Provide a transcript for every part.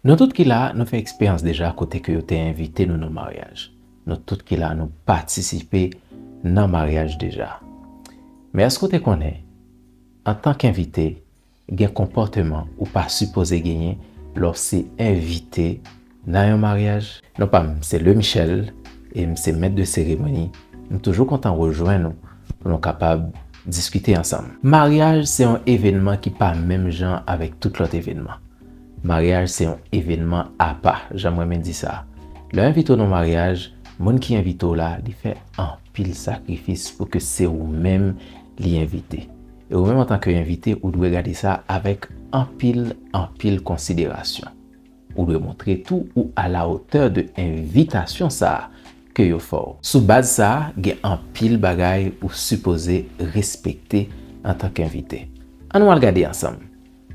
Nou tout ki la a, nou fè eksperyans deja kote ke yo te envite nou nan maryaj. Nou tout ki la a, nou patisipe nan maryaj deja. Men èske ou te konnen, antank envite, gen konpòteman ou pa sipoze genyen lè w se envite nan yon maryaj? Non pa m se Leu Michel e m se mèt de seremoni, m toujou kontan rejwenn ou pou nou kapab diskite ansanm. Maryaj se yon evenman ki pa menm jan avèk tout lòt evenman. Maryaj se yon evenman apa, jan m renmen di sa. Lè yo envite w nan maryaj, moun ki envite w la, li fè anpil sakrifis pou ke se ou menm li envite. E ou menm antanke envite, ou dwe gade sa avèk anpil, anpil konsiderasyon. Ou dwe montre tou ou alawotè de envitasyon sa ke yo fè w. Sou baz sa, gen anpil bagay ou sipoze respekte antanke envite. An nou al gade ansanm.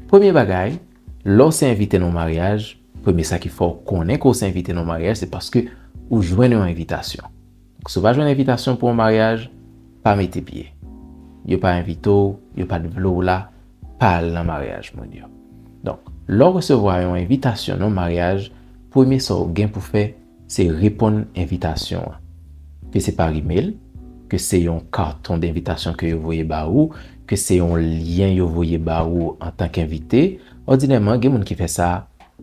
Premye bagay, lè w se envite nan yon maryaj, premye sa ki fè w konnen ke w se envite nan yon maryaj se paske ou jwenn yon envitasyon. Donk si w pa jwenn envitasyon pou yon maryaj, pa mete pye. Yo pa envite w, yo pa t vle w la, pa al nan maryaj moun yo. Donk, lè w resevwa yon envitasyon nan yon maryaj, premye sa w gen pou fè, Se reponn envitasyon an. Ke se par email, ke se yon karton denvitasyon ke yo voye ba ou, ke se yon lyen yo voye ba ou antank envite, òdinèman gen moun ki fè sa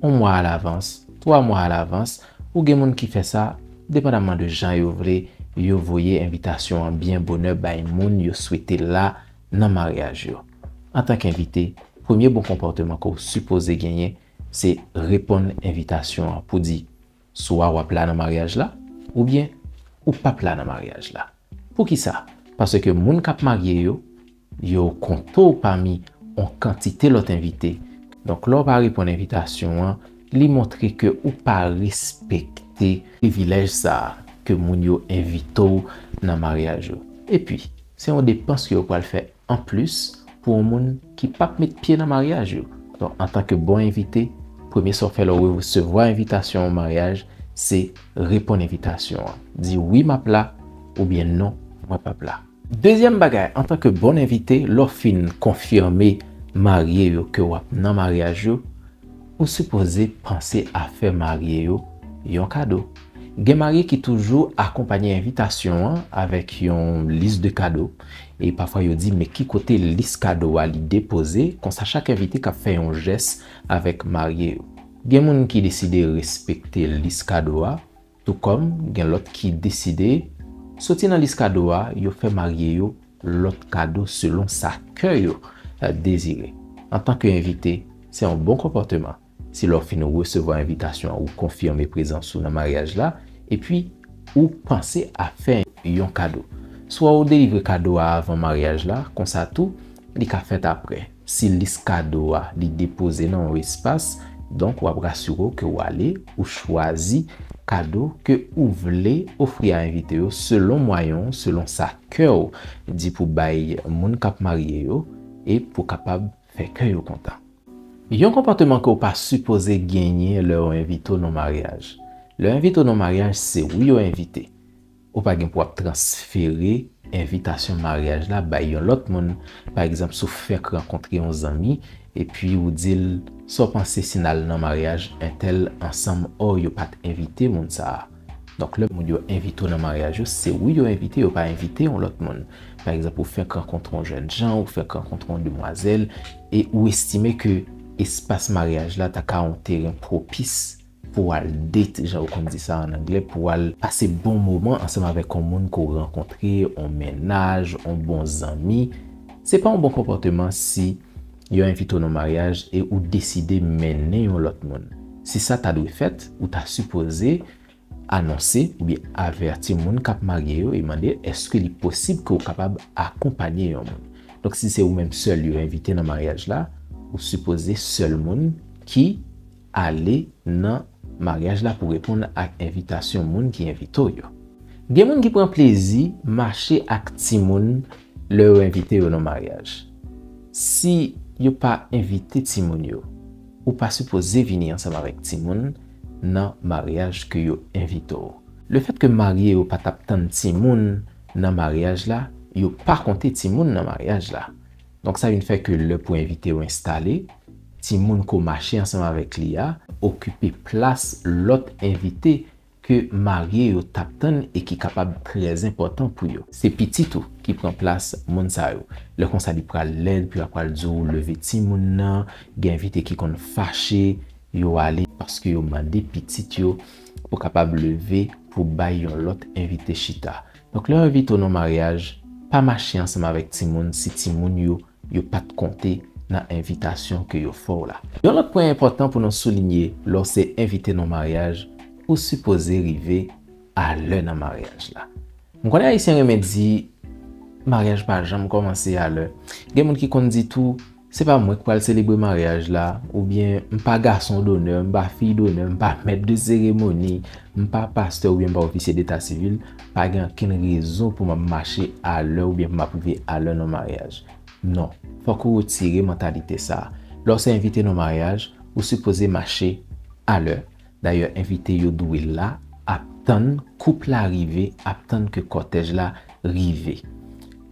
yon mwa alavans, twa mwa alavans, ou gen moun ki fè sa depandaman de jan yo vle yo voye envitasyon an byen bonè bay moun yo swete la nan maryaj yo. Antank envite, premye bon konpòteman ke w sipoze genyen Se reponn envitasyon an pou di swa wap la nan maryaj la oubyen ou pap la nan maryaj la. Poukisa? Paske moun kap marye yo, yo konte w pami on kantite lòt envite. Donk lè w pa reponn envitasyon an, li montre ke ou pa respekte privilèj sa a ke moun yo envite w nan maryaj ou. Epi, se on depans ke yo pral fè Anplis, pou yon moun ki pap met pye nan maryaj yo. Donk, antanke bon envite, premye sa w fè lè w resevwa envitasyon yon maryaj, se reponn envitasyon an. Di wi m ap la oubyen non mwen pap la. Dezyèm bagay, antanke bon envite, lè w fin konfime marye yo ke w ap nan maryaj yo, Ou sipoze panse a fè marye yo yon kado. Gen marye ki toujou akonpanye envitasyon an avèk yon lis de kado, e pafwa yo di men ki kote lis kado a li depoze, konsa chak envite ka fè yon jès avèk marye yo. Gen moun ki deside respekte lis kado a, Tou kòm gen lòt ki deside soti nan lis kado a, yo fè marye yo lòt kado selon sa kè yo dezire. Antanke envite, se yon bon konpòteman si lè w fin resevwa envitasyon an ou konfime prezans ou nan maryaj la epi ou panse a fè yon kado. Swa ou delivre kado a avan maryaj la, konsa tou li ka fèt aprè. Si lis kado a li depoze nan yon espas, donk wap rasire w ke ou ale, ou chwazi kado ke ou vle ofri a envite yo selon mwayen w, selon sa kè w di pou bay moun kap marye yo e pou kapab fè kè yo kontan. Yon konpòteman ke w pa sipoze genyen lè yo envite w nan maryaj. Lè yo envite w nan maryaj se ou yo envite. Ou pa gen pou ap transfere envitasyon maryaj la bay yon lòt moun. Pa egzanp, si w fèk rankontre yon zanmi, epi ou di l, Sa w panse si n al nan maryaj entèl ansanm? Ò, yo pa t envite moun sa a. Donk, lè moun yo envite w nan maryaj yo, se ou yo envite, yo pa envite yon lòt moun. Pa egzanp, ou fèk rankontre yon jènjan, ou fèk rankontre yon demwazèl, e ou estime ke espas maryaj la ta ka yon teren pwopis, pou w al date jan yo konn di sa an anglè, pou w al pase bon moman ansanm avèk on moun ke w rankontre, on mennaj, on bon zanmi, se pa on bon konpòteman si yo envite w nan on maryaj e ou deside mennen yon lòt moun. Si sa ta dwe fèt, ou ta sipoze anonse oubyen avèti moun k ap marye yo e mande èske li posib ke w kapab akonpanye yon moun. Donk si se ou menm sèl yo envite nan maryaj la, ou sipoze sèl moun ki. ale nan maryaj la pou reponn ak envitasyon moun ki envite w yo. Gen moun ki pran plezi mache ak timoun lè yo envite yo nan maryaj. Si yo pa envite timoun yo, ou pa sipoze vini ansanm avèk timoun nan maryaj ke yo envite w. Lefèt ke marye yo pa t ap tann timoun nan maryaj la, yo pa konte timoun nan maryaj la. Donk sa vin fè ke lè pou envite yo enstale, timoun ko mache ansanm avèk li a, okipe plas lòt envite ke marye yo t ap tann e ki kapab trè enpòtan pou yo. Se pitit ou ki pran plas moun sa yo. Lè konsa li pral lèd pou yo ap pral di w leve timoun nan, gen envite ki konn fache, yo ale paske yo mande pitit yo pou kapab leve pou bay yon lòt envite chita. Donk lè envite w nan maryaj, pa mache ansanm avèk timoun si timoun yo yo pa t konte nan envitasyon ke yo fè w la. Yon lòt pwen enpòtan pou nou soulinye lè w se envite nan maryaj, ou sipoze rive a lè nan maryaj la. M konnen Ayisyen renmen di, Maryaj pa janm kòmanse a lè. Gen moun ki konn di tou. Se pa mwen k pral selebre maryaj la, oubyen m pa gason donè, m pa fiy donè, m pa mèt de seremoni, m pa pastè oubyen m pa ofisye deta sivil, pa gen ankenn rezon pou m ap mache alè oubyen pou m ap rive alè nan maryaj. Non, fòk ou retire mantalite sa a. Lè w se envite nan maryaj, ou sipoze mache alè. Dayè envite yo dwe la ap tann koup la rive, ap tann ke kòtèj la rive.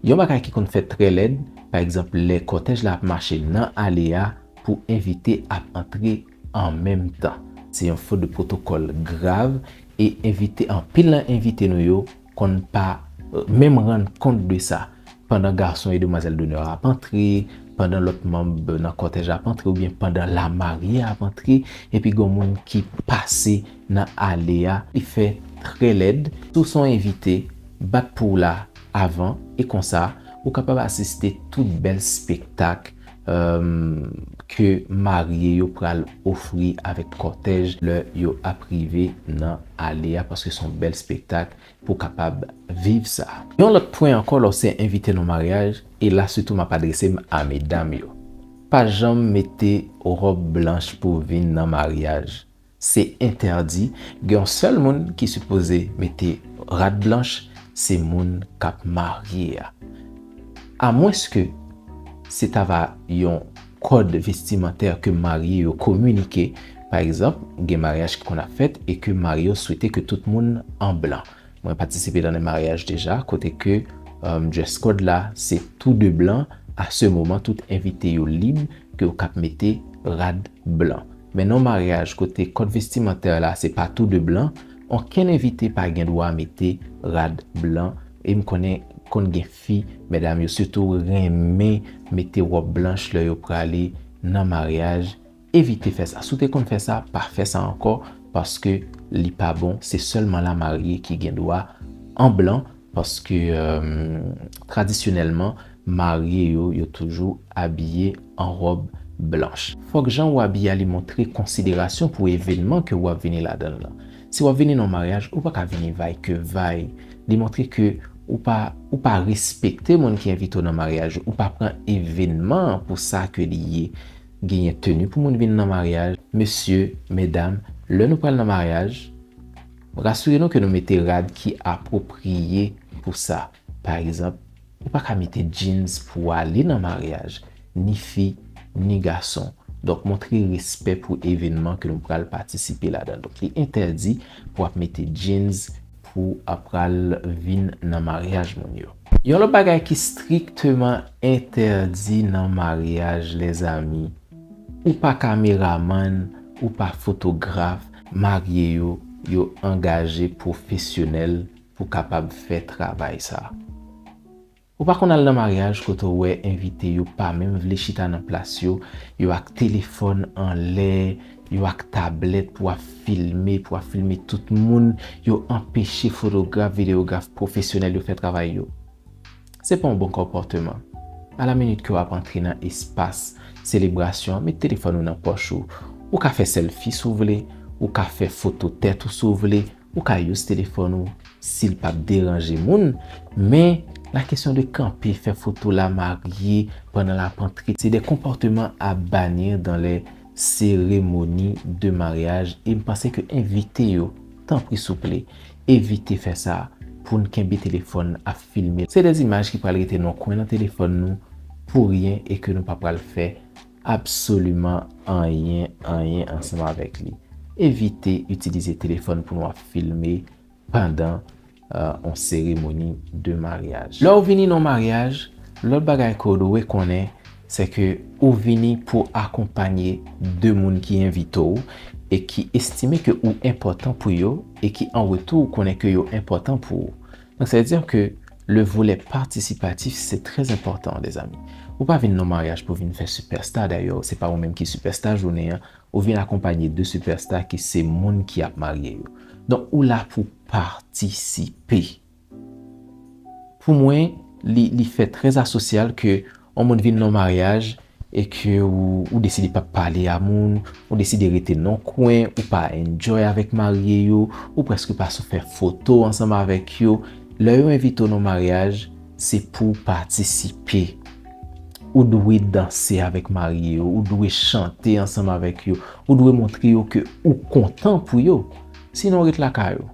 Yon bagay ki konn fèt trè lèd, pa egzanp lè kòtèj la ap mache nan ale a pou envite ap antre an menm tan. Se yon fot de pwotokòl grav e envite anpil nan envite nou yo konn pa menm rann kont de sa pandan gason e demwazèl donè a ap antre, pandan lòt manb nan kòtèj la ap antre oubyen pandan lamarye a ap antre epi gon moun ki pase nan ale a li fè trè lèd. Si w se yon envite, bat pou w la avan e konsa ou kapab asiste tout bèl spektak ke marye yo pral ofri avèk kòtèj lè yo ap rive nan ale a paske son bèl spektak pou kapab viv sa. Yon lòt pwen ankò lè w se envite nan maryaj, e la sitou m ap adrese m a medam yo, pa janm mete ròb blanch pou vin nan maryaj. Se entèdi, gen yon sèl moun ki sipoze mete rad blanch se moun kap marye a. A mwens ke se ta va yon kòd vestimantè ke marye yo kominike, pa egzanp gen maryaj ki konn ap fèt e ke marye yo swete ke tout moun an blan. Mwen patisipe nan 2 maryaj deja kote ke dress code la se tou 2 blan, a se moman tout envite yo lib ke yo kap mete rad blan. Men nan yon maryaj kote kòd vestimantè la se pa tou 2 blan, onkenn envite pa gen dwa mete rad blan e m konnen konn gen fi, medam yo sitou renmen mete wòb blanch lè yo prale nan maryaj. Evite fè sa. Si w te konn fè sa, pa fè sa ankò paske li pa bon. Se sèlman la marye ki gen dwa an blan paske tradisyonèlman marye yo, yo toujou abiye an ròb blanch. Fòk jan ou abiye a li montre konsiderasyon pou evenman ke ou ap vini ladan l lan. Si w ap vini nan yon maryaj, ou pa ka vini vay ke vay. Li montre ke ou pa ou pa respekte moun ki envite w nan maryaj ou. Ou pa pran evenman an pou sa ke li ye. Genyen tenu pou moun vin nan maryaj. Mesye, medam, lè nou pral nan maryaj, rasire nou ke nou mete rad ki apwopriye pou sa. Pa egzanp, ou pa ka mete jeans pou w ale nan maryaj, ni fi, ni gason. Donk montre respè pou evenman ke nou pral patisipe ladan. Donk li entèdi pou ap mete jeans pou ap pral vin nan maryaj moun yo. Yon lòt bagay ki strikteman entèdi nan maryaj lèzami, ou pa kameramann, ou pa fotograf, marye yo, yo angaje pwofesyonèl pou kapab fè travay sa. Ou pa konn al nan maryaj kote w wè envite yo pa menm vle chita nan plas yo, yo ak telefòn anlè, Yo ak tablèt pou ap filme, pou ap filme tout moun, yo anpeche fotograf, videograf pwofesyonèl yo fè travay yo. Se pa yon bon konpòteman. A la minit ke w ap antre nan espas selebrasyon an, met telefòn ou nan pòch ou. Ou ka fè sèlfi si w vle, ou ka fè foto tèt ou si w vle, Ou ka use telefòn ou sil pap deranje moun, men la kesyon de kanpe fè foto la marye pandan lap antre se de konpòteman a bannir dans les cérémonies de mariage e m panse ke envite yo tanpri souple evite fè sa poun kenbe telefòn ap filme se de imaj ki pral rete nan kwen nan telefòn nou pou ryen e ke nou pa pral fè Absoliman anyen, anyen ansanm avèk li. Evite itilize telefòn pou nou ap filme pandan yon seremoni de maryaj. Lè ou vini nan yon maryaj, lòt bagay ke ou dwe konnen, se ke ou vini pou akonpanye de moun ki envite ou e ki estime ke ou enpòtan pou yo e ki an retou ou konnen ke yo enpòtan pou ou. Donc c'est dire que le volet participatif c'est très important les amis. Ou pa vin nan maryaj pou vin fè superstar d'ailleurs se pa ou menm ki superstar jounen an, ou vin akonpanye de superstar ki se moun ki ap marye yo. Don ou la pou patisipe. Pou mwen li fè très asosyal ke On moun vin nan yon maryaj e ke ou deside pap pale a moun, ou deside rete nan yon kwen, ou pa enjoy avèk marye yo, ou prèske pa sou fè foto ansanm avèk yo, lè yo envite w nan yon maryaj, se pou w patisipe. Ou dwe danse avèk marye yo, ou dwe chante ansanm avèk yo, ou dwe montre yo ke ou kontan pou yo. Sinon ret lakay ou.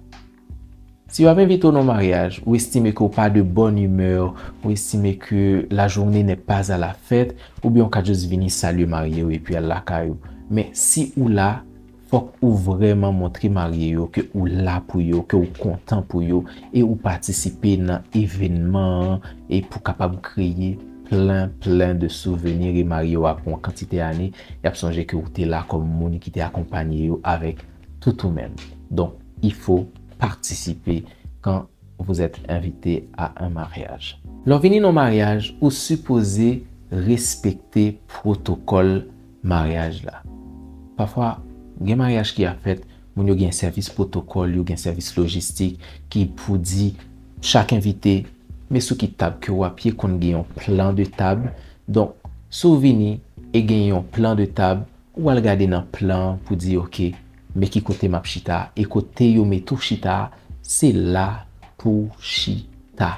Si yo ap envite w nan maryaj, ou estime ke w pa de bonne humeur, ou estime ke la journée n'est pas à la fête, oubyen w ka just vini salye marye yo epi al lakay ou. Men, si ou la, fòk ou vrèman montre marye yo ke ou la pou yo, ke ou kontan pou yo, e ou patisipe nan evenman an e pou kapab kreye plen, plen de souveni e marye yo apre yon kantite ane, y ap sonje ke ou te la kòm moun ki te akonpanye yo avèk tout ou menm. Donk, il faut participer quand vous êtes invité à un mariage. Lè w vini nan yon maryaj, ou sipoze respekte pwotokòl maryaj la. Pafwa, gen maryaj ki ap fèt, moun yo gen sèvis pwotokòl yo, gen sèvis lojistik ki pou di chak envite, Men sou ki tab ke w ap ye, konn gen yon plan de table. Donk, si w vini e gen yon plan de table, Ou pral gade nan plan an pou di ok men ki kote map chita e kote yo mete w chita a se la pouw chita.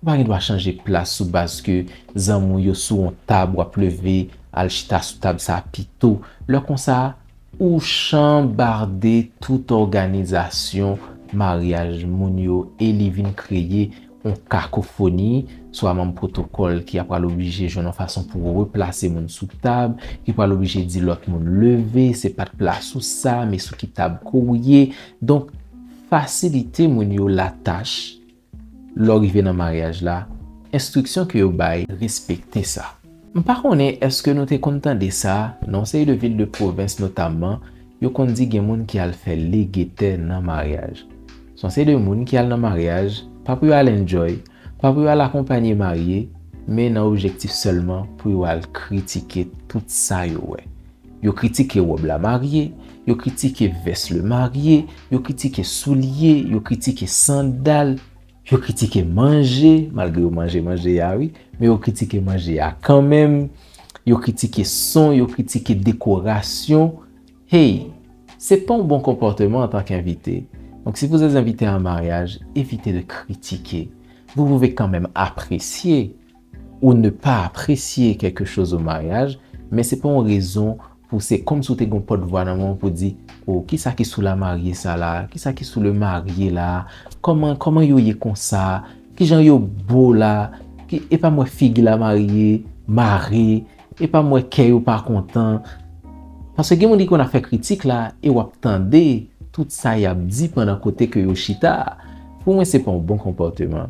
Ou pa gen dwa chanje plas sou baz ke zanmi w yo sou on tab wap leve al chita sou tab sa pito. Lè konsa ou chanbarde tout òganizasyon maryaj moun yo e li vin kreye yon kakofoni, swa manm pwotokòl ki apral oblije jwenn yon fason pou replase moun sou tab, ki pral oblije di lòt moun leve, se pa t plas ou sa, men sou ki tab ke w ye. Donk, fasilite moun yo latach lè w rive nan maryaj la, enstriksyon ke yo bay, respekte sa. M pa konnen eske nou te konn tande sa, nan yon seri de vil de pwovens notamman, yo konn di gen moun ki al fè lege tè nan maryaj. Se yon seri de moun ki al nan maryaj, pa pou yo al enjoy, pa pou yo al akonpanye marye, men nan objektif sèlman pou yo al kritike tout sa yo wè. Yo kritike wòb la marye, yo kritike vès le marye, yo kritike soulye, yo kritike sandal. Yo kritike manje, malgre yo manje manje a wi, men yo kritike manje a kanmenm, yo kritike son, yo kritike dekorasyon. Hey! Se pa yon bon konpòteman antan k envite. Donk si vous êtes invité à un mariage, évitez de critiquer. Vous pouvez quand même apprécier. Ou ne pa apresye kèlke choz o maryaj, men se pa yon rezon pou se kòmsi ou te gen yon pòt vwa nan men w pou di, O, kisa ki sou lamarye sa la a? Kisa ki sou lemarye la a? Kòman, kòman yo ye konsa? Kijan yo bo la? Ki, e pa m wè figi lamarye mare? E pa m wè kè yo pa kontan? Paske gen moun ki konn ap fè kritik la e w ap tande tout sa y ap di pandan kote ke yo chita a. Pou mwen se pa yon bon konpòteman.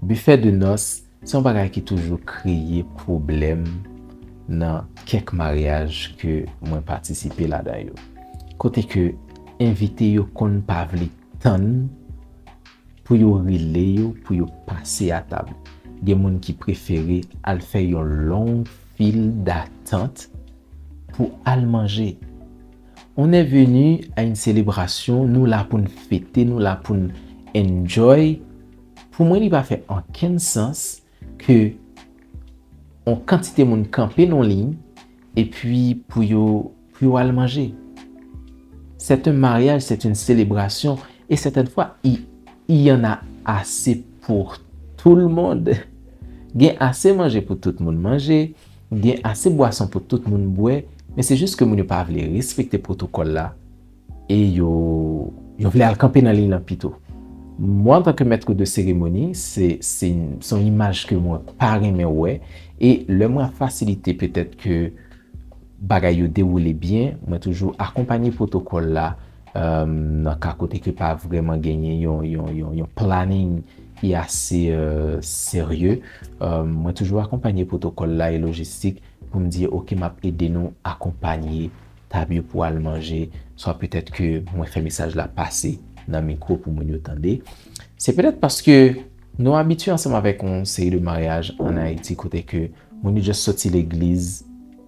Bifè de nòs se yon bagay ki toujou kreye pwoblèm nan kèk maryaj ke mwen patisipe ladan yo. Kote ke envite yo konn pa vle tann pou yo rele yo pou yo pase a tab. Gen moun ki prefere al fè yon long fil datant pou al manje. On est venu à une celebration, nou la poun fete, nou la poun enjoy, pou mwen li pa fè ankenn sans ke on kantite moun kanpe non liy e pi pou yo pou yo al manje. C'est un mariage, c'est une celebration et certaines fois il il y en a assez pour tout le monde. Gen ase manje pou tout moun manje. Gen ase bwason pou tout moun bwè men se jis ke moun yo pa vle respekte pwotokòl la e yo yo vle al kanpe nan liy lan pito. Mwen antan ke mètre de seremoni se se se yon imaj ke mwen pa renmen wè e lè mwen ap fasilite petèt ke bagay yo dewoule byen mwen toujou akonpanye pwotokòl la nan ka kote ke pa vrèman genyen yon yon yon planning ki ase serye. Mwen toujou akonpanye pwotokòl la e lojistik pou m di yo ok m ap ede nou akonpanye tab yo pou al manje swa petèt ke mwen fè mesaj la pase nan mikwo pou moun yo tande. Se petèt paske nou abitye ansanm avèk yon seri de maryaj an Ayiti kote ke moun yo just soti legliz,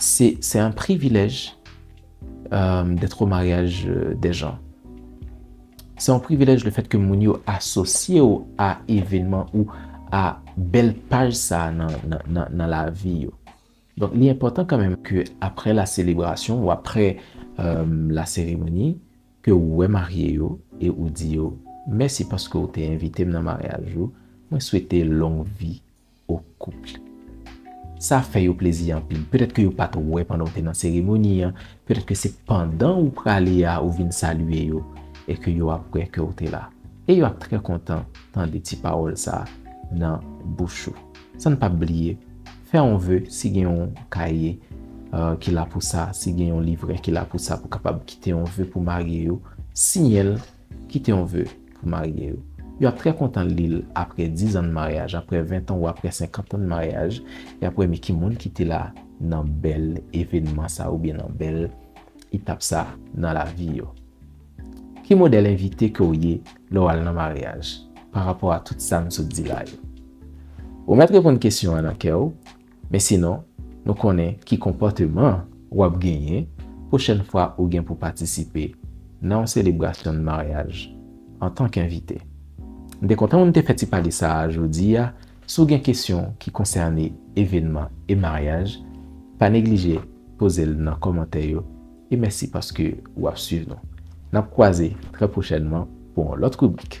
Se c'est un privilèj d'être au mariage des gens. Se yon privilèj le fèt ke moun yo asosye ou a evenman ou a bèl paj sa nan lavi yo. Donk li enpòtan kanmenm ke apre la selebrasyon ou apre la seremoni ke ou wè marye yo e ou di yo mèsi paske ou te envite m nan maryaj ou, mwen swete long vi. au couple. Sa fè yo plezi anpil. Petèt ke yo pa t wè pandan ou te nan seremoni an, petèt ke se pandan ou prale a ou vin salye yo e ke yo ap wè ke ou te la. E yo ap trè kontan tande ti pawòl sa nan bouch ou. San n pap bliye, fè yon ve, si gen yon kaye ki la pou sa, si gen yon livrè ki la pou sa pou kapab kite yon ve pou marye yo, siyen l Kite yon ve pou marye yo. Yo ap trè kontan li l apre dizan n maryaj, apre ventan ou apre senkantan n maryaj, y ap wè mi ki moun ki te la nan bèl evenman sa oubyen nan bèl etap sa nan lavi yo. Ki modèl envite ke w ye lè w al nan maryaj, parapò a tout sa n sot di la yo? Ou mèt reponn kesyon an nan kè w, Men sinon, nou konnen ki konpòteman w ap genyen pwochèn fwa ou gen pou patisipe nan yon selebrasyon maryaj antan k envite. M te kontan pou m te fè ti pale sa a jodi a. Si w gen kesyon ki konsène evènman e maryaj, pa neglije poze l nan kòmantè yo e mèsi paske w ap suiv nou. N ap kwaze trè pwochènman pou yon lòt ribrik.